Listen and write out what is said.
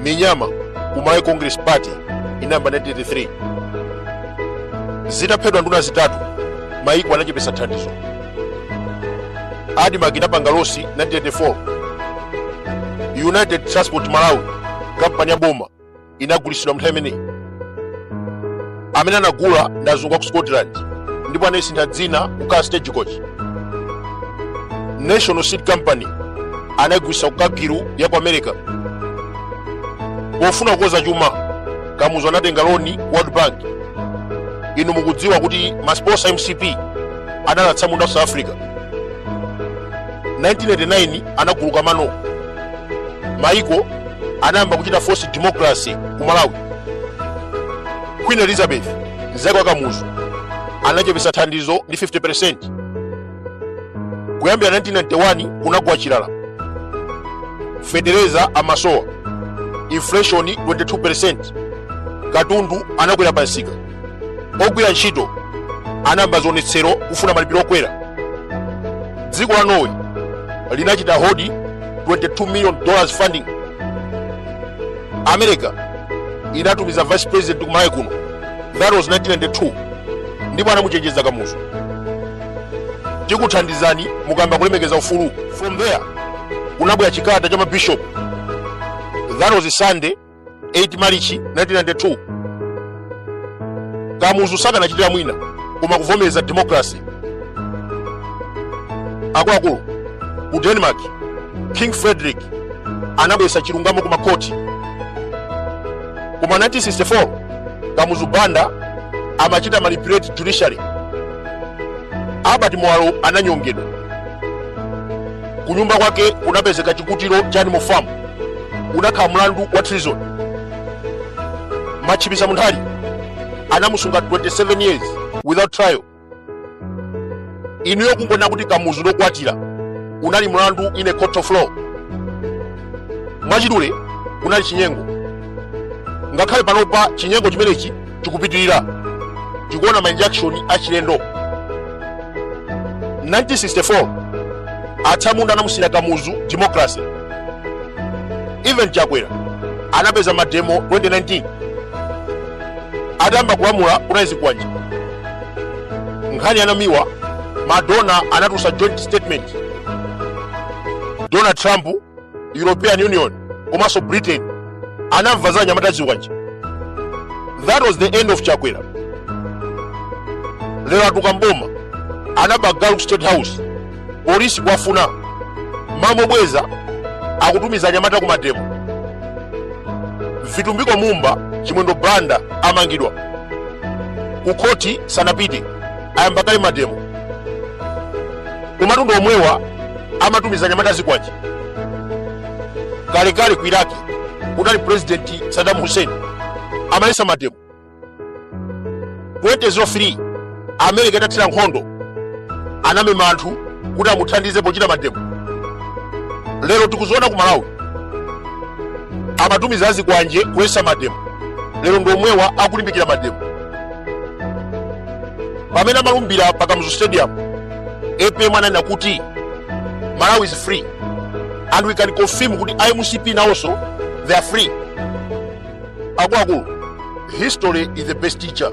minyama ku malawi congress party inayamba 1983 zitaphedwa nduna zitatu maiko anachepetsa thandizo admarc inapanga losi 1984 united transport malawi kampani ya boma inagulitsidwa mnthawi imeneyi amene anagula ndi azungu aku scotland ndipo anayisintha dzina kukhala stagecoach national seed company anayigulitsa ku cargill ya ku america pofuna kukonza chuma kamuzu anatenga loni ku world bank inu mukudziwa kuti masposa mcp analanda munda ku south africa 1989 anaguluka mano maiko anayamba kuchita force democracy ku malawi queen elizabeth mzake wa kamuzu anachepetsa thandizo ndi 50 kuyambira 1991 kunagwa chilala feteleza amasowa inflation 22 katundu anakwera pamsika ogwira ntchito anayamba zionetsero kufuna malipiro okwera dziko la norway linachita hold 22 million dollars funding america inatumiza vice president kumalawi kuno that was 1992 ndipo anamuchenjeza kamuzu tikuthandizani mukayamba kulemekeza ufulu from there kunabwera chikalata cha mabishop that was sunday 8 marichi 1992 kamuzu sakanachitira mwina koma kuvomereza democracy akuluakulu ku denmark king frederick anabweretsa chilungamo ku makoti kuma 1964 kamuzu banda amachita manipulate judiciary albert muwalo ananyongedwa kunyumba kwake kunapezeka chikuto cha animal farm unakhala mlandu wa treason matchipisa munthali anamusunga 27 years without trial inuyo kungonena kuti kamuzu ndi okwatira unali mlandu in a court of law mwachidule kunali chinyengo ngakhale panopa chinyengo chimenechi chikupitirira tikuona ma injection achilendo 1964 atsamunda anamusiyira kamuzu democracy even chakwera anapeza mademo 2019 atayamba kulamula kunalizi kwacha nkhani yanamiwa madonor anatulutsa joint statement donald trump european union komanso britain anamva za anyamata azikwanje that was the end of chakwera lero atuka mboma anaba galu state house polisi kuwafuna mawabweza akutumiza anyamata ku mademo vitumbiko mumba chimwendo banda amangidwa kukhoti sanapite ayamba kale mademo kumatundu omwewa amatumiza anyamata azikwanje kalekale ku iraki kunali purezidenti sadamu hussein amaletsa mademo 2003 america itathira nkhondo anamema anthu kuti amuthandize pochita mademo lero tikuziona ku malawi amatumiza azikwanje kuletsa mademo lero ndi omwewa akulimbikira mademo pamene amalumbira pa kamuzu stadium apm ananena kuti malawi is free and we can confirm kuti a mcp nawonso they are free akuluakulu history is the best teacher